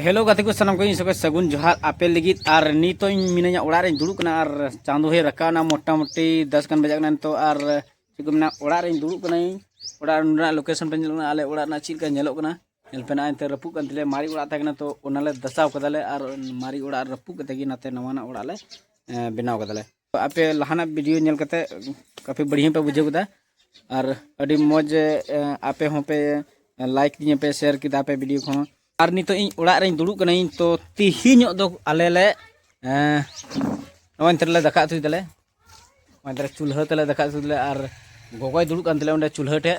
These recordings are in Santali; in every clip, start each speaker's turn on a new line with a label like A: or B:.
A: ᱦᱮᱞᱳ ᱜᱟᱛᱮ ᱠᱚ ᱥᱟᱱᱟᱢ ᱠᱚ ᱤᱧ ᱥᱚᱠᱚᱡ ᱥᱟᱹᱜᱩᱱ ᱡᱚᱦᱟᱨ ᱟᱯᱮ ᱞᱟᱹᱜᱤᱫ ᱟᱨ ᱱᱤᱛᱚᱜ ᱤᱧ ᱢᱤᱱᱟᱹᱧᱟ ᱚᱲᱟᱜ ᱨᱮᱧ ᱫᱩᱲᱩᱵ ᱠᱟᱱᱟ ᱟᱨ ᱪᱟᱸᱫᱚ ᱦᱚᱭ ᱨᱟᱠᱟᱵ ᱮᱱᱟ ᱢᱚᱴᱟᱢᱩᱴᱤ ᱫᱚᱥ ᱜᱟᱱ ᱵᱟᱡᱟᱜ ᱠᱟᱱᱟ ᱱᱤᱛᱚᱜ ᱟᱨ ᱪᱮᱫ ᱠᱚ ᱢᱮᱱᱟ ᱚᱲᱟᱜ ᱨᱮᱧ ᱫᱩᱲᱩᱵ ᱠᱟᱹᱱᱟᱹᱧ ᱚᱲᱟᱜ ᱨᱮᱱᱟᱜ ᱞᱳᱠᱮᱥᱚᱱ ᱯᱮ ᱧᱮᱞᱚᱜ ᱠᱟᱱᱟ ᱟᱞᱮ ᱚᱲᱟᱜ ᱨᱮᱱᱟᱜ ᱪᱮᱫ ᱞᱮᱠᱟ ᱧᱮᱞᱚᱜ ᱠᱟᱱᱟ ᱧᱮᱞ ᱯᱮ ᱱᱟᱜ ᱮᱱᱛᱮ ᱨᱟᱹᱯᱩᱫ ᱠᱟᱱ ᱛᱟᱞᱮᱭᱟ ᱢᱟᱨᱮ ᱚᱲᱟᱜ ᱛᱟᱦᱮᱸ ᱠᱟᱱᱟ ᱛᱚ ᱚᱱᱟᱞᱮ ᱫᱟᱥᱟᱣ ᱠᱟᱫᱟᱞᱮ ᱟᱨ ᱢᱟᱨᱮ ᱚᱲᱟᱜ ᱨᱟᱹᱯᱩᱫ ᱠᱟᱛᱮ ᱜᱮ ᱱᱟᱛᱮ ᱱᱟᱣᱟᱱᱟᱜ ᱚᱲᱟᱜ ᱞᱮ ᱵᱮᱱᱟᱣ ᱠᱟᱫᱟᱞᱮ ᱟᱯᱮ ᱞᱟᱦᱟᱱᱟᱜ ᱵᱷᱤᱰᱤᱭᱳ ᱧᱮᱞ ᱠᱟᱛᱮ ᱠᱟᱯᱷᱤ ᱵᱟᱹᱲᱤᱭᱟᱹ ᱯᱮ ᱵᱩᱡᱷᱟᱹᱣ ᱠᱮᱫᱟ ᱟᱨ ᱟᱹᱰᱤ ᱢᱚᱡᱽ ᱟᱯᱮ ᱦᱚᱸ ᱯᱮ ᱞᱟᱭᱤᱠ ᱫᱤᱧᱟᱹ ᱯᱮ ᱥᱮᱭᱟᱨ ᱠᱮᱫᱟ ᱯᱮ ᱵᱷᱤᱰᱤᱭᱳ ᱠᱚᱦᱚᱸ ᱟᱨ ᱱᱤᱛᱚᱜ ᱤᱧ ᱚᱲᱟᱜ ᱨᱮᱧ ᱫᱩᱲᱩᱵ ᱠᱟᱹᱱᱟᱹᱧ ᱛᱚ ᱛᱤᱦᱤᱧᱚᱜ ᱫᱚ ᱟᱞᱮ ᱞᱮ ᱱᱚᱜᱼᱚᱭ ᱱᱤᱛᱚᱜ ᱞᱮ ᱫᱟᱠᱟ ᱩᱛᱩᱭ ᱫᱟᱞᱮ ᱱᱚᱜᱼᱚᱭ ᱪᱩᱞᱦᱟᱹ ᱛᱮᱞᱮ ᱫᱟᱠᱟ ᱩᱛᱩᱭ ᱫᱟᱞᱮ ᱟᱨ ᱜᱚᱜᱚᱭ ᱫᱩᱲᱩᱵ ᱠᱟᱱ ᱛᱟᱞᱮ ᱚᱸᱰᱮ ᱪᱩᱞᱦᱟᱹ ᱴᱷᱮᱡ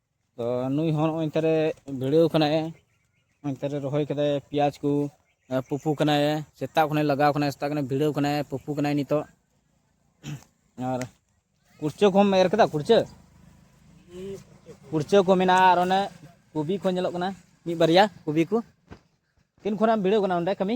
A: ᱛᱚ ᱱᱩᱭ ᱦᱚᱸ ᱱᱚᱜᱼᱚᱭ ᱱᱮᱛᱟᱨᱮ ᱵᱷᱤᱲᱟᱹᱣ ᱠᱟᱱᱟᱭ ᱱᱮᱛᱟᱨᱮ ᱨᱚᱦᱚᱭ ᱠᱟᱫᱟᱭ ᱯᱮᱸᱭᱟᱡᱽ ᱠᱚ ᱯᱩᱯᱩ ᱠᱟᱱᱟᱭ ᱥᱮᱛᱟᱜ ᱠᱷᱚᱱᱮ ᱞᱟᱜᱟᱣ ᱠᱟᱱᱟᱭ ᱥᱮᱛᱟᱜ ᱠᱷᱚᱱᱮ ᱵᱷᱤᱲᱟᱹᱣ ᱠᱟᱱᱟᱭ ᱯᱩᱯᱩ ᱠᱟᱱᱟᱭ ᱱᱤᱛᱚᱜ ᱟᱨ ᱠᱩᱲᱪᱟᱹ ᱠᱚᱢ ᱮᱨ ᱠᱮᱫᱟ ᱠᱩᱲᱪᱟᱹ ᱠᱩᱲᱪᱟᱹ ᱠᱚ ᱢᱮᱱᱟᱜᱼᱟ ᱟᱨ ᱚᱱᱮ ᱠᱚᱵᱤ ᱠᱚ ᱧᱮᱞᱚᱜ ᱠᱟᱱᱟ ᱢᱤᱫ ᱵᱟᱨᱭᱟ ᱠᱚᱵᱤ ᱠᱚ ᱛᱤᱱ ᱠᱷᱚᱱᱟᱜ ᱮᱢ ᱵᱷᱤᱲᱟᱹᱣ ᱠᱟᱱᱟ ᱚᱸᱰᱮ ᱠᱟᱹᱢᱤ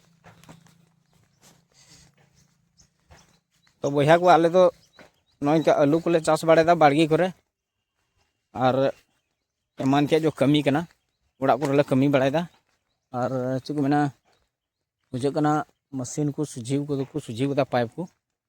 A: ᱛᱚ ᱵᱚᱭᱦᱟ ᱠᱚ ᱟᱞᱮ ᱫᱚ ᱱᱚᱝᱠᱟ ᱟᱹᱞᱩ ᱠᱚᱞᱮ ᱪᱟᱥ ᱵᱟᱲᱟᱭᱮᱫᱟ ᱵᱟᱲᱜᱮ ᱠᱚᱨᱮ ᱟᱨ ᱮᱢᱟᱱ ᱛᱮᱭᱟᱜ ᱡᱚ ᱠᱟᱹᱢᱤ ᱠᱟᱱᱟ ᱚᱲᱟᱜ ᱠᱚᱨᱮ ᱞᱮ ᱠᱟᱹᱢᱤ ᱵᱟᱲᱟᱭᱮᱫᱟ ᱟᱨ ᱪᱮᱫ ᱠᱚ ᱢᱮᱱᱟ ᱵᱩᱡᱷᱟᱹᱜ ᱠᱟᱱᱟ ᱢᱮᱥᱤᱱ ᱠᱚ ᱥᱚᱡᱷᱮ ᱠᱚᱫᱚ ᱠᱚ ᱥᱚᱡᱷᱮ ᱠᱟᱫᱟ ᱯᱟᱭᱤᱯ ᱠᱚ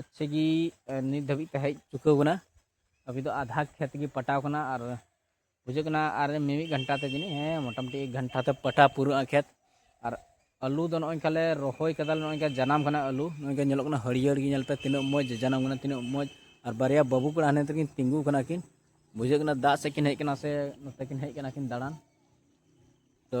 A: ᱟᱪᱪᱷᱟ ᱜᱮ ᱱᱤᱛ ᱫᱷᱟᱹᱵᱤᱡ ᱛᱮ ᱦᱮᱡ ᱪᱩᱠᱟᱹᱣ ᱠᱟᱱᱟ ᱟᱵᱤ ᱫᱚ ᱟᱫᱷᱟ ᱠᱷᱮᱛ ᱜᱮ ᱯᱟᱴᱟᱣ ᱠᱟᱱᱟ ᱟᱨ ᱵᱩᱡᱷᱟᱹᱜ ᱠᱟᱱᱟ ᱟᱨ ᱢᱤᱢᱤᱫ ᱜᱷᱟᱱᱴᱟ ᱛᱮ ᱡᱟᱹᱱᱤᱡ ᱦᱮᱸ ᱢᱚᱴᱟᱢᱩᱴᱤ ᱮᱠ ᱜᱷᱟᱱᱴᱟ ᱛᱮ ᱯᱟᱴᱟ ᱯᱩᱨᱟᱹᱜᱼᱟ ᱠᱷᱮᱛ ᱟᱨ ᱟᱹᱞᱩ ᱫᱚ ᱱᱚᱜᱼᱚᱭ ᱠᱟᱞᱮ ᱨᱚᱦᱚᱭ ᱠᱟᱫᱟ ᱱᱚᱜᱼᱚᱭ ᱠᱟ ᱡᱟᱱᱟᱢ ᱠᱟᱱᱟ ᱟᱹᱞᱩ ᱱᱚᱜᱼᱚᱭ ᱠᱟ ᱧᱮᱞᱚᱜ ᱠᱟᱱᱟ ᱦᱟᱹᱨᱭᱟᱹᱲ ᱜᱮ ᱧᱮᱞ ᱯᱮ ᱛᱤᱱᱟᱹᱜ ᱢᱚᱡᱽ ᱡᱟᱱᱟᱢ ᱠᱟᱱᱟ ᱛᱤᱱᱟᱹᱜ ᱢᱚᱡᱽ ᱟᱨ ᱵᱟᱨᱭᱟ ᱵᱟᱹᱵᱩ ᱠᱚᱲᱟ ᱦᱟᱱᱮ ᱛᱮᱠᱤᱱ ᱛᱤᱸᱜᱩ ᱠᱟᱱᱟ ᱠᱤᱱ ᱵᱩᱡᱷᱟᱹᱜ ᱠᱟᱱᱟ ᱫᱟᱜ ᱥᱮᱫ ᱠᱤᱱ ᱦᱮᱡ ᱠᱟᱱᱟ ᱥᱮ ᱱᱚᱛᱮ ᱠᱤᱱ ᱦᱮᱡ ᱠᱟᱱᱟ ᱠᱤᱱ ᱫᱟᱬᱟᱱ ᱛᱚ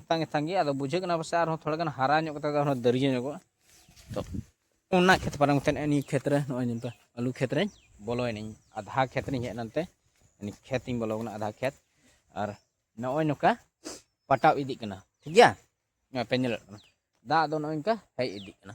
A: ᱮᱛᱟᱝ ᱮᱛᱟᱝ ᱜᱮ ᱟᱫᱚ ᱵᱩᱡᱷᱟᱹᱜ ᱠᱟᱱᱟ ᱯᱟᱥᱮᱡ ᱟᱨᱦᱚᱸ ᱛᱷᱚᱲᱟ ᱜᱟᱱ ᱦᱟᱨᱟ ᱧᱚᱜ ᱠᱟᱛᱮᱫ ᱟᱨᱦᱚᱸ ᱫᱟᱹᱨᱭᱟᱹ ᱧᱚᱜᱚᱜᱼᱟ ᱛᱚ ᱚᱱᱟ ᱠᱷᱮᱛ ᱯᱟᱨᱚᱢ ᱠᱟᱛᱮᱫ ᱱᱤᱭᱟᱹ ᱠᱷᱮᱛ ᱨᱮ ᱱᱚᱜᱼᱚᱭ ᱱᱤᱛᱚᱜ ᱟᱹᱞᱩ ᱠᱷᱮᱛ ᱨᱮᱧ ᱵᱚᱞᱚᱭᱮᱱᱟᱹᱧ ᱟᱫᱷᱟ ᱠᱷᱮᱛ ᱨᱮᱧ ᱦᱮᱡ ᱮᱱᱛᱮ ᱱᱤᱭᱟᱹ ᱠᱷᱮᱛ ᱤᱧ ᱵᱚᱞᱚ ᱠᱟᱱᱟ ᱟᱫᱷᱟ ᱠᱷᱮᱛ ᱟᱨ ᱱᱚᱜᱼᱚᱭ ᱱᱚᱝᱠᱟ ᱯᱟᱴᱟᱣ ᱤᱫᱤᱜ ᱠᱟᱱᱟ ᱴᱷᱤᱠ ᱜᱮᱭᱟ ᱯᱮ ᱧᱮᱞᱮᱫ ᱠᱟᱱᱟ ᱫᱟᱜ ᱫᱚ ᱱᱚᱜᱼᱚᱭ ᱱᱚᱝᱠᱟ ᱦᱮᱡ ᱤᱫᱤᱜ ᱠᱟᱱᱟ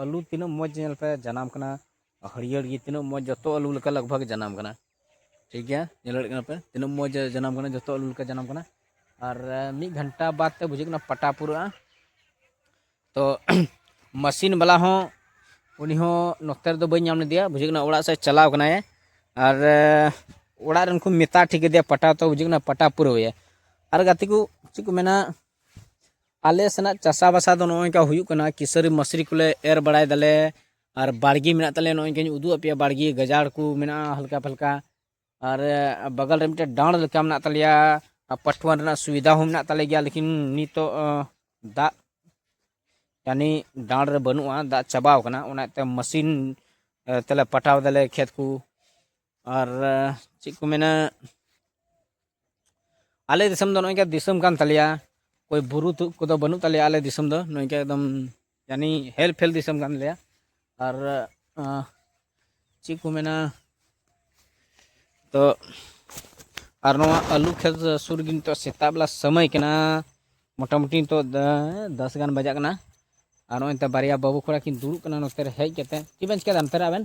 A: ᱟᱹᱞᱩ ᱛᱤᱱᱟᱹᱜ ᱢᱚᱡᱽ ᱧᱮᱞ ᱯᱮ ᱡᱟᱱᱟᱢ ᱠᱟᱱᱟ ᱦᱟᱹᱨᱭᱟᱹᱲ ᱜᱮ ᱛᱤᱱᱟᱹᱜ ᱢᱚᱡᱽ ᱡᱚᱛᱚ ᱟᱹᱞᱩ ᱞᱮᱠᱟ ᱞᱟᱜᱽ ᱵᱷᱟᱜᱽ ᱡᱟᱱᱟᱢ ᱠᱟᱱᱟ ᱴᱷᱤᱠ ᱜᱮᱭᱟ ᱧᱮᱞ ᱫᱟᱲᱮᱭᱟᱜ ᱠᱟᱱᱟ ᱯᱮ ᱛᱤᱱᱟᱹᱜ ᱢᱚᱡᱽ ᱡᱟᱱᱟᱢ ᱠᱟᱱᱟ ᱡᱚᱛᱚ ᱟᱹᱞᱩ ᱞᱮᱠᱟ ᱡᱟᱱᱟᱢ ᱠᱟᱱᱟ ᱟᱨ ᱢᱤᱫ ᱜᱷᱚᱱᱴᱟ ᱵᱟᱫ ᱛᱮ ᱵᱩᱡᱷᱟᱹᱜ ᱠᱟᱱᱟ ᱯᱟᱴᱟ ᱯᱩᱨᱟᱹᱜᱼᱟ ᱛᱚ ᱢᱟᱥᱤᱱ ᱵᱟᱞᱟ ᱦᱚᱸ ᱩᱱᱤ ᱦᱚᱸ ᱱᱚᱛᱮ ᱨᱮᱫᱚ ᱵᱟᱹᱧ ᱧᱟᱢ ᱞᱮᱫᱮᱭᱟ ᱵᱩᱡᱷᱟᱹᱜ ᱠᱟᱱᱟ ᱚᱲᱟᱜ ᱥᱮᱫ ᱪᱟᱞᱟᱣ ᱠᱟᱱᱟᱭ ᱟᱨ ᱚᱲᱟᱜ ᱨᱮᱱ ᱠᱚ ᱢᱮᱛᱟ ᱴᱷᱤᱠ ᱠᱮᱫᱮᱭᱟ ᱯᱟᱴᱟ ᱛᱚ ᱵᱩᱡᱷᱟᱹᱜ ᱠᱟᱱᱟ ᱯᱟᱴᱟ ᱯᱩᱨᱟᱹᱣᱮᱭᱟ ᱟᱨ ᱜᱟᱛᱮ ᱠᱚ ᱪᱮᱫ ᱠᱚ ᱢᱮᱱᱟ ᱟᱞᱮ ᱥᱮᱱᱟᱜ ᱪᱟᱥᱟ ᱵᱟᱥᱟ ᱫᱚ ᱱᱚᱜᱼᱚᱭ ᱱᱚᱝᱠᱟ ᱦᱩᱭᱩᱜ ᱠᱟᱱᱟ ᱠᱤᱥᱟᱹᱨᱤ ᱢᱟᱥᱨᱤ ᱠᱚᱞᱮ ᱮᱨ ᱵᱟᱲᱟᱭ ᱫᱟᱞᱮ ᱟᱨ ᱵᱟᱲᱜᱮ ᱢᱮᱱᱟᱜ ᱛᱟᱞᱮᱭᱟ ᱱᱚᱜᱼᱚᱭ ᱱᱚᱝᱠᱟᱧ ᱩᱫᱩᱜ ᱟᱯᱮᱭᱟ ᱵᱟᱲᱜᱮ ᱜᱟᱡᱟᱲ ᱠᱚ ᱢᱮᱱᱟᱜᱼᱟ ᱦᱟᱞᱠᱟ ᱯᱷᱟᱞᱠᱟ ᱟᱨ ᱵᱟᱜᱟᱞ ᱨᱮ ᱢᱤᱫᱴᱮᱱ ᱰᱟᱸᱲ ᱞᱮᱠᱟ ᱢᱮᱱᱟᱜ ᱛᱟᱞᱮᱭᱟ ᱯᱟᱴᱷᱩᱣᱟᱱ ᱨᱮᱱᱟᱜ ᱥᱩᱵᱤᱫᱷᱟ ᱦᱚᱸ ᱢᱮᱱᱟᱜ ᱛᱟᱞᱮ ᱜᱮᱭᱟ ᱞᱮᱠᱤᱱ ᱱᱤᱛᱚᱜ ᱫᱟᱜ ᱡᱟᱹᱱᱤ ᱰᱟᱸᱲ ᱨᱮ ᱵᱟᱹᱱᱩᱜᱼᱟ ᱫᱟᱜ ᱪᱟᱵᱟᱣ ᱠᱟᱱᱟ ᱚᱱᱟᱛᱮ ᱢᱟᱥᱤᱱ ᱛᱮᱞᱮ ᱯᱟᱴᱟᱣ ᱫᱟᱞᱮ ᱠᱷᱮᱛ ᱠᱚ ᱟᱨ ᱪᱮᱫ ᱠᱚ ᱢᱮᱱᱟ ᱟᱞᱮ ᱫᱤᱥᱚᱢ ᱫᱚ ᱱᱚᱝᱠᱟ ᱫᱤᱥᱚᱢ ᱠᱟᱱ ᱛᱟᱞᱮᱭᱟ ᱚᱠᱚᱭ ᱵᱩᱨᱩ ᱛᱩᱫ ᱠᱚᱫᱚ ᱵᱟᱹᱱᱩᱜ ᱛᱟᱞᱮᱭᱟ ᱟᱞᱮ ᱫᱤᱥᱚᱢ ᱫᱚ ᱱᱚᱝᱠᱟ ᱮᱠᱫᱚᱢ ᱡᱟᱹᱱᱤ ᱦᱮᱞ ᱯᱷᱮᱞ ᱫᱤᱥᱚᱢ ᱠᱟᱱ ᱛᱟᱞᱮᱭᱟ ᱟᱨ ᱪᱮᱫ ᱠᱚ ᱢᱮᱱᱟ ᱛᱚ ᱟᱨ ᱱᱚᱣᱟ ᱟᱹᱞᱩ ᱠᱷᱮᱛ ᱥᱩᱨ ᱜᱮ ᱱᱤᱛᱚᱜ ᱥᱮᱛᱟᱜ ᱵᱮᱞᱟ ᱥᱚᱢᱚᱭ ᱠᱟᱱᱟ ᱢᱚᱴᱟᱢᱩᱴᱤ ᱱᱤᱛᱚᱜ ᱫᱚᱥ ᱜᱟᱱ ᱵᱟᱡᱟᱜ ᱠᱟᱱᱟ ᱟᱨ ᱱᱚᱜᱼᱚᱭ ᱱᱤᱛᱚᱜ ᱵᱟᱨᱭᱟ ᱵᱟᱹᱵᱩ ᱠᱚᱲᱟ ᱠᱤᱱ ᱫᱩᱲᱩᱵ ᱠᱟᱱᱟ ᱱᱚᱛᱮ ᱨᱮ ᱦᱮᱡ ᱠᱟᱛᱮ ᱪᱮᱫ ᱵᱮᱱ ᱪᱤᱠᱟᱹᱭᱮᱫᱟ ᱱᱚᱛᱮ ᱨᱮ ᱟᱵᱮᱱ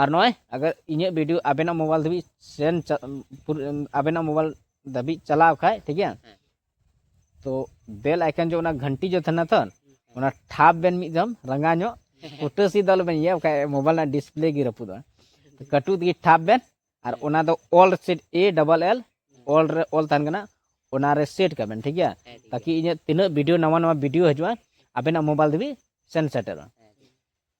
A: ᱟᱨ ᱱᱚᱜᱼᱚᱭ ᱟᱜᱟᱨ ᱤᱧᱟᱹᱜ ᱵᱷᱤᱰᱤᱭᱳ ᱟᱵᱮᱱᱟᱜ ᱢᱳᱵᱟᱭᱤᱞ ᱫᱷᱟᱹᱵᱤᱡ ᱥᱮᱱ ᱟᱵᱮᱱᱟᱜ ᱢᱳᱵᱟᱭᱤᱞ ᱫᱷᱟᱹᱵᱤᱡ ᱪᱟᱞᱟᱣ ᱠᱷᱟᱡ ᱴᱷᱤᱠ ᱜᱮᱭᱟ ᱛᱚ ᱵᱮᱞ ᱟᱭᱠᱚᱱ ᱡᱮ ᱚᱱᱟ ᱜᱷᱟᱱᱴᱤ ᱡᱮ ᱛᱟᱦᱮᱱᱟ ᱛᱚ ᱚᱱᱟ ᱴᱷᱟᱯ ᱵᱮᱱ ᱢᱤᱫ ᱫᱚᱢ ᱨᱟᱸᱜᱟ ᱧᱚᱜ ᱯᱩᱴᱟᱹᱥᱤ ᱫᱚ ᱟᱞᱚᱵᱮᱱ ᱤᱭᱟᱹ ᱵᱟᱠᱷᱟᱡ ᱢᱳᱵᱟᱭᱤᱞ ᱨᱮᱱᱟᱜ ᱰᱤᱥᱯᱞᱮ ᱜᱮ ᱨᱟᱹᱯᱩᱫᱚᱜᱼᱟ ᱠᱟᱹᱴᱩ ᱛᱮᱜᱮ ᱴᱷᱟᱯ ᱵᱮᱱ ᱟᱨ ᱚᱱᱟ ᱫᱚ ᱚᱞ ᱥᱮᱴ ᱮ ᱰᱚᱵᱚᱞ ᱮᱞ ᱚᱞ ᱨᱮ ᱚᱞ ᱛᱟᱦᱮᱱ ᱠᱟᱱᱟ ᱚᱱᱟ ᱨᱮ ᱥᱮᱴ ᱠᱟᱜ ᱵᱮᱱ ᱴᱷᱤᱠ ᱜᱮᱭᱟ ᱛᱟᱠᱤ ᱤᱧᱟᱹᱜ ᱛᱤᱱᱟᱹᱜ ᱵᱷᱤᱰᱤᱭᱳ ᱱᱟᱣᱟ ᱱᱟᱣᱟ ᱵᱷᱤᱰᱤᱭᱳ ᱦᱤᱡᱩᱜᱼᱟ ᱟᱵᱮᱱᱟᱜ ᱢᱳᱵᱟᱭᱤᱞ ᱫᱷᱟᱹᱵᱤᱡ ᱥᱮᱱ ᱥᱮᱴᱮᱨᱚᱜᱼᱟ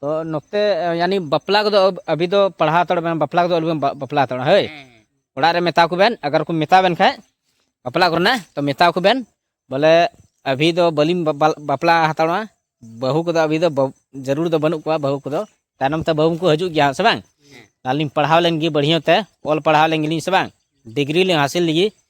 A: ᱛᱚ ᱱᱚᱛᱮ ᱭᱟᱱᱤ ᱵᱟᱯᱞᱟ ᱠᱚᱫᱚ ᱟᱵᱤ ᱫᱚ ᱯᱟᱲᱦᱟᱣ ᱛᱟᱲ ᱵᱮᱱ ᱵᱟᱯᱞᱟ ᱠᱚᱫᱚ ᱟᱞᱚᱵᱮᱱ ᱵᱟᱯᱞᱟ ᱛᱟᱲ ᱦᱳᱭ ᱚᱲᱟᱜ ᱨᱮ ᱢᱮᱛᱟ ᱠᱚ ᱵᱮᱱ ᱟᱜᱟᱨ ᱠᱚ ᱢᱮᱛᱟ ᱵᱮᱱ ᱠᱷᱟᱡ ᱵᱟᱯᱞᱟ ᱠᱚᱨᱮᱱᱟᱜ ᱛᱚ ᱢᱮᱛᱟ ᱠᱚ ᱵᱮᱱ ᱵᱚᱞᱮ ᱟᱵᱤ ᱫᱚ ᱵᱟᱹᱞᱤᱧ ᱵᱟᱯᱞᱟ ᱦᱟᱛᱟᱲᱚᱜᱼᱟ ᱵᱟᱹᱦᱩ ᱠᱚᱫᱚ ᱟᱵᱤ ᱫᱚ ᱡᱟᱹᱨᱩᱲ ᱫᱚ ᱵᱟᱹᱱᱩᱜ ᱠᱚᱣᱟ ᱵᱟᱹᱦᱩ ᱠᱚᱫᱚ ᱛᱟᱭᱱᱚᱢ ᱛᱮ ᱵᱟᱹᱦᱩ ᱠᱚ ᱦᱤᱡᱩᱜ ᱜᱮᱭᱟ ᱥᱮ ᱵᱟᱝ ᱟᱹᱞᱤᱧ ᱯᱟᱲᱦᱟᱣ ᱞᱮᱱ ᱜᱮ ᱵᱟᱹᱲᱦᱤᱭᱟᱹ ᱛᱮ ᱚᱞ ᱯᱟᱲᱦᱟᱣ ᱞᱮᱱ ᱜᱮᱞᱤᱧ ᱥᱮ ᱵᱟᱝ ᱰᱤᱜᱽᱨᱤ ᱞᱤᱧ ᱦᱟᱥᱤᱞ ᱞᱮᱜᱮ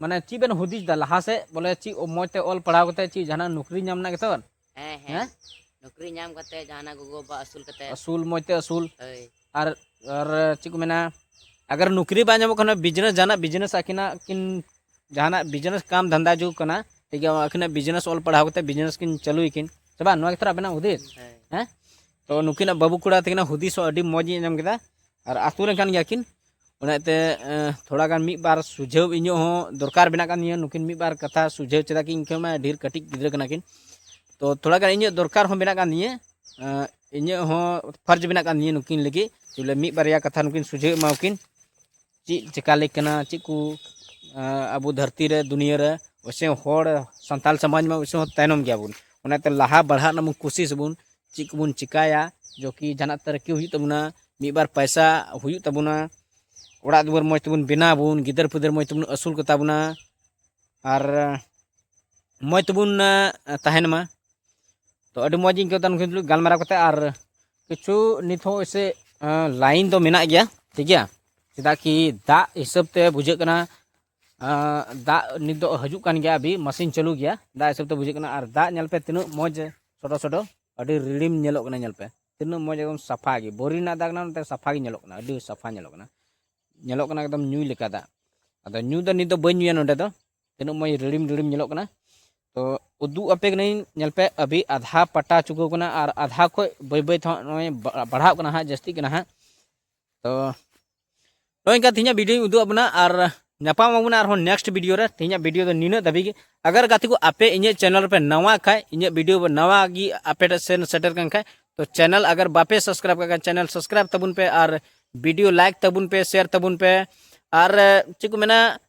A: ᱢᱟᱱᱮ ᱪᱮᱫ ᱵᱮᱱ ᱦᱩᱫᱤᱥ ᱫᱟ ᱞᱟᱦᱟ ᱥᱮᱫ ᱵᱚᱞᱮ ᱪᱮᱫ ᱢᱚᱡᱽ ᱛᱮ ᱚᱞ ᱯᱟᱲᱦᱟᱣ ᱠᱟᱛᱮ ᱪᱮᱫ ᱡᱟᱦᱟᱱᱟᱜ ᱱᱚᱠᱨᱤ ᱧᱟᱢ ᱨᱮᱱᱟᱜ ᱜᱮᱛᱚ ᱦᱮᱸ ᱦᱮᱸ ᱱᱚᱠᱨᱤ ᱧᱟᱢ ᱠᱟᱛᱮ ᱡᱟᱦᱟᱱᱟᱜ ᱜᱚᱜᱚ ᱵᱟᱵᱟ ᱟᱹᱥᱩᱞ ᱠᱟᱛᱮ ᱟᱹᱥᱩᱞ ᱢᱚᱡᱽ ᱛᱮ ᱟᱹᱥᱩᱞ ᱦᱳᱭ ᱟᱨ ᱟᱨ ᱪᱮᱫ ᱠᱚ ᱢᱮᱱᱟ ᱟᱜᱟᱨ ᱱᱚᱠᱨᱤ ᱵᱟᱝ ᱧᱟᱢᱚᱜ ᱠᱟᱱᱟ ᱵᱤᱡᱽᱱᱮᱥ ᱡᱟᱦᱟᱱᱟᱜ ᱵᱤᱡᱽᱱᱮᱥ ᱟᱹᱠᱤᱱᱟᱜ ᱠᱤᱱ ᱡᱟᱦᱟᱱᱟᱜ ᱵᱤᱡᱽᱱᱮᱥ ᱠᱟᱢ ᱫᱷᱟᱱᱫᱟ ᱡᱩᱜ ᱠᱟᱱᱟ ᱴᱷᱤᱠ ᱜᱮᱭᱟ ᱟᱹᱠᱤᱱᱟᱜ ᱵᱤᱡᱽᱱᱮᱥ ᱚᱞ ᱯᱟᱲᱦᱟᱣ ᱠᱟᱛᱮ ᱵᱤᱡᱽᱱᱮᱥ ᱠᱤᱱ ᱪᱟᱹᱞᱩᱭ ᱠᱤᱱ ᱥᱮ ᱵᱟᱝ ᱱᱚᱣᱟ ᱜᱮᱛᱚ ᱟᱵᱮᱱᱟᱜ ᱦᱩᱫᱤᱥ ᱦᱮᱸ ᱛᱚ ᱱᱩᱠᱤᱱᱟᱜ ᱵᱟᱹᱵᱩ ᱠᱚᱲᱟ ᱛᱟᱹᱠᱤᱱᱟᱜ ᱦᱩᱫᱤᱥ ᱦᱚᱸ ᱟᱹᱰᱤ ᱢᱚᱡᱽ ᱤᱧ ᱟᱸᱡᱚᱢ ᱠᱮᱫᱟ ᱟᱨ ᱟᱹᱛᱩ ᱨᱮᱱ ᱠᱟᱱ ᱜᱮᱭᱟ ᱠᱤᱱ ᱚᱱᱟᱛᱮ ᱛᱷᱚᱲᱟ ᱜᱟᱱ ᱢᱤᱫ ᱵᱟᱨ ᱥᱩᱡᱷᱟᱹᱣ ᱤᱧᱟᱹᱜ ᱦᱚᱸ ᱫᱚᱨᱠᱟᱨ ᱢᱮᱱᱟᱜ ᱠᱟᱱ ᱛᱤᱧᱟᱹ ᱱᱩᱠᱤᱱ ᱢᱤᱫ ᱵᱟᱨ ᱠᱟᱛᱷᱟ ᱥᱩᱡᱷᱟᱹᱣ ᱪᱮᱫᱟᱜ ᱠᱤ ᱤᱧ ᱠᱷᱚᱱ ᱢᱟ ᱰᱷᱮᱨ ᱠᱟᱹᱴᱤᱡ ᱜᱤᱫᱽᱨᱟᱹ ᱠᱟᱱᱟ ᱠᱤᱱ ᱛᱚ ᱛᱷᱚᱲᱟ ᱜᱟᱱ ᱤᱧᱟᱹᱜ ᱫᱚᱨᱠᱟᱨ ᱦᱚᱸ ᱢᱮᱱᱟᱜ ᱠᱟᱱ ᱛᱤᱧᱟᱹ ᱤᱧᱟᱹᱜ ᱦᱚᱸ ᱯᱷᱟᱨᱡᱽ ᱢᱮᱱᱟᱜ ᱠᱟᱱ ᱛᱤᱧᱟᱹ ᱱᱩᱠᱤᱱ ᱞᱟᱹᱜᱤᱫ ᱵᱚᱞᱮ ᱢᱤᱫ ᱵᱟᱨᱭᱟ ᱠᱟᱛᱷᱟ ᱱᱩᱠᱤᱱ ᱥᱩᱡᱷᱟᱹᱣ ᱮᱢᱟᱣᱟᱠᱤᱱ ᱪᱮᱫ ᱪᱮᱠᱟ ᱞᱮ ᱠᱟᱱᱟ ᱪᱮᱫ ᱠᱚ ᱟᱵᱚ ᱫᱷᱟᱹᱨᱛᱤ ᱨᱮ ᱫᱩᱱᱤᱭᱟᱹ ᱨᱮ ᱚᱵᱚᱥᱥᱚ ᱦᱚᱲ ᱥᱟᱱᱛᱟᱲ ᱥᱚᱢᱟᱡᱽ ᱢᱟ ᱚᱵᱚᱥᱥᱚ ᱛᱟᱭᱱᱚᱢ ᱜᱮᱭᱟ ᱵᱚᱱ ᱚᱱᱟᱛᱮ ᱞᱟᱦᱟ ᱵᱟᱲᱦᱟᱜ ᱨᱮᱱᱟᱜ ᱵᱚᱱ ᱠᱩᱥᱤᱥ ᱟᱵᱚᱱ ᱪᱮᱫ ᱠᱚᱵᱚᱱ ᱪᱮᱠᱟᱭᱟ ᱡᱚᱠᱤ ᱡᱟᱦᱟᱱᱟᱜ ᱛᱟᱹᱨᱠᱤ ᱦᱩᱭᱩᱜ ᱛᱟᱵᱚᱱᱟ ᱢᱤᱫ ᱵᱟᱨ ᱯᱚᱭᱥᱟ ᱦᱩᱭᱩᱜ ᱛᱟᱵᱚᱱᱟ ᱚᱲᱟᱜ ᱫᱩᱣᱟᱹᱨ ᱢᱚᱡᱽ ᱛᱮᱵᱚᱱ ᱵᱮᱱᱟᱣ ᱟᱵᱚᱱ ᱜᱤᱫᱟᱹᱨ ᱯᱤᱫᱟᱹᱨ ᱢᱚᱡᱽ ᱛᱮᱵᱚᱱ ᱟᱹᱥᱩᱞ ᱠᱚᱛᱟ ᱵᱚᱱᱟ ᱟᱨ ᱢᱚᱡᱽ ᱛᱮᱵᱚᱱ ᱛᱟᱦᱮᱱ ᱢᱟ ᱛᱚ ᱟᱹᱰᱤ ᱢᱚᱡᱽ ᱤᱧ ᱟᱹᱭᱠᱟᱹᱣ ᱫᱟ ᱱᱩᱠᱤᱱ ᱛᱩᱞᱩᱡ ᱜᱟᱞᱢᱟᱨᱟᱣ ᱠᱟᱛᱮᱫ ᱟᱨ ᱠᱤᱪᱷᱩ ᱱᱤᱛ ᱦᱚᱸ ᱮᱥᱮ ᱞᱟᱭᱤᱱ ᱫᱚ ᱢᱮᱱᱟᱜ ᱜᱮᱭᱟ ᱴᱷᱤᱠ ᱜᱮᱭᱟ ᱪᱮᱫᱟᱜ ᱠᱤ ᱫᱟᱜ ᱦᱤᱥᱟᱹᱵ ᱛᱮ ᱵᱩᱡᱷᱟᱹᱜ ᱠᱟᱱᱟ ᱫᱟᱜ ᱱᱤᱛ ᱫᱚ ᱦᱤᱡᱩᱜ ᱠᱟᱱ ᱜᱮᱭᱟ ᱟᱵᱤ ᱢᱟᱥᱤᱱ ᱪᱟᱹᱞᱩ ᱜᱮᱭᱟ ᱫᱟᱜ ᱦᱤᱥᱟᱹᱵ ᱛᱮ ᱵᱩᱡᱷᱟᱹᱜ ᱠᱟᱱᱟ ᱟᱨ ᱫᱟᱜ ᱧᱮᱞ ᱯᱮ ᱛᱤᱱᱟᱹᱜ ᱢᱚᱡᱽ ᱥᱚᱰᱚ ᱥᱚᱰᱚ ᱟᱹᱰᱤ ᱨᱤᱲᱤᱢ ᱧᱮᱞᱚᱜ ᱠᱟᱱᱟ ᱧᱮᱞ ᱯᱮ ᱛᱤᱱᱟᱹᱜ ᱢᱚᱡᱽ ᱮᱠᱫᱚᱢ ᱥᱟᱯᱷᱟ ᱜᱮ ᱵᱳᱨᱤ ᱨᱮᱱᱟᱜ ᱫᱟᱜ ᱠᱟᱱᱟ ᱱᱚᱛᱮ ᱥᱟᱯᱷᱟ ᱜᱮ ᱧᱮᱞᱚᱜ ᱠᱟᱱᱟ ᱟᱹᱰᱤ ᱥᱟᱯᱷᱟ ᱧᱮᱞᱚᱜ ᱠᱟᱱᱟ ᱧᱮᱞᱚᱜ ᱠᱟᱱᱟ ᱮᱠᱫᱚᱢ ᱧᱩᱭ ᱞᱮᱠᱟ ᱫᱟᱜ ᱟᱫᱚ ᱧᱩ ᱫᱚ ᱱᱤᱛ ᱫᱚ ᱵᱟᱹᱧ ᱧᱩᱭᱟ ᱱᱚᱰᱮ ᱫᱚ ᱛᱤᱱᱟᱹᱜ ᱢᱚᱡᱽ ᱨᱤᱲᱤᱢ ᱨᱤᱲᱤᱢ ᱧᱮᱞᱚᱜ ᱠᱟᱱᱟ ᱛᱚ ᱩᱫᱩᱜ ᱟᱯᱮ ᱠᱟᱹᱱᱟᱹᱧ ᱧᱮᱞ ᱯᱮ ᱟᱹᱵᱤ ᱟᱫᱷᱟ ᱯᱟᱴᱟ ᱪᱩᱠᱟᱹᱣ ᱠᱟᱱᱟ ᱟᱨ ᱟᱫᱷᱟ ᱠᱷᱚᱡ ᱵᱟᱹᱭ ᱵᱟᱹᱭ ᱛᱮᱦᱚᱸ ᱱᱚᱜᱼᱚᱭ ᱵᱟᱲᱦᱟᱜ ᱠᱟᱱᱟ ᱦᱟᱸᱜ ᱡᱟᱹᱥᱛᱤᱜ ᱠᱟᱱᱟ ᱦᱟᱸᱜ ᱛᱚ ᱱᱚᱜᱼᱚᱭ ᱤᱱᱠᱟ ᱛᱮᱦᱮᱧᱟᱜ ᱵᱷᱤᱰᱤᱭᱳᱧ ᱩᱫᱩᱜ ᱟᱵᱚᱱᱟ ᱟᱨ ᱧᱟᱯᱟᱢ ᱟᱵᱚᱱᱟ ᱟᱨᱦᱚᱸ ᱱᱮᱠᱥᱴ ᱵᱷᱤᱰᱤᱭᱳ ᱨᱮ ᱛᱮᱦᱮᱧᱟᱜ ᱵᱷᱤᱰᱤᱭᱳ ᱫᱚ ᱱᱤᱱᱟᱹᱜ ᱫᱷᱟᱹᱵᱤᱡ ᱜᱮ ᱟᱜᱟᱨ ᱜᱟᱛᱮ ᱠᱚ ᱟᱯᱮ ᱤᱧᱟᱹᱜ ᱪᱮᱱᱮᱞ ᱨᱮᱯᱮ ᱱᱟᱣᱟ ᱠᱷᱟᱡ ᱤᱧᱟᱹᱜ ᱵᱷᱤᱰᱤᱭᱳ ᱱᱟᱣᱟ ᱜᱮ ᱟᱯᱮ ᱴᱷᱮᱱ ᱥᱮᱱ ᱥᱮᱴᱮᱨ ᱠᱟᱱ ᱠᱷᱟᱡ ᱛᱚ ᱪᱮᱱᱮᱞ ᱟᱜᱟᱨ ᱵᱟᱯᱮ ᱥᱟᱵᱥᱠᱨᱟᱭᱤᱵ ᱠᱟᱜ ᱠᱷᱟᱡ ᱪᱮᱱᱮᱞ ᱥᱟᱵᱥᱠᱨᱟᱭᱤᱵ ᱛᱟᱵᱚᱱ ᱯᱮ ᱟᱨ ᱵᱷᱤᱰᱤᱭᱳ ᱞᱟᱭᱤᱠ ᱛᱟᱵᱚᱱ ᱯᱮ ᱥᱮᱭᱟᱨ ᱛᱟᱵᱚᱱ ᱯᱮ ᱟᱨ ᱪᱮᱫ ᱠᱚ ᱢᱮᱱᱟ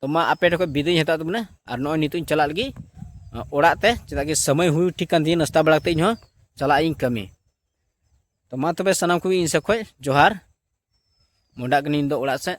A: ᱛᱚ ᱢᱟ ᱟᱯᱮ ᱴᱷᱮᱱ ᱠᱷᱚᱱ ᱵᱤᱫᱟᱹᱭ ᱦᱟᱛᱟᱣ ᱛᱟᱵᱚᱱᱟ ᱟᱨ ᱱᱚᱜᱼᱚᱭ ᱱᱤᱛᱚᱜ ᱤᱧ ᱪᱟᱞᱟᱜ ᱞᱟᱹᱜᱤᱫ ᱚᱲᱟᱜ ᱛᱮ ᱪᱮᱫᱟᱜ ᱜᱮ ᱥᱚᱢᱚᱭ ᱦᱩᱭ ᱴᱷᱤᱠ ᱠᱟᱱ ᱛᱤᱧᱟᱹ ᱱᱟᱥᱛᱟ ᱵᱟᱲᱟ ᱠᱟᱛᱮ ᱤᱧ ᱦᱚᱸ ᱪᱟᱞᱟᱜ ᱤᱧ ᱠᱟᱹᱢᱤ ᱛᱚ ᱢᱟ ᱛᱚᱵᱮ ᱥᱟᱱᱟᱢ ᱠᱚᱜᱮ ᱤᱧ ᱥᱮᱫ ᱠᱷᱚᱱ ᱡᱚᱦᱟᱨ ᱢᱚᱰᱟᱜ ᱠᱟᱹᱱᱟᱹᱧ ᱫᱚ ᱚᱲᱟᱜ ᱥᱮᱫ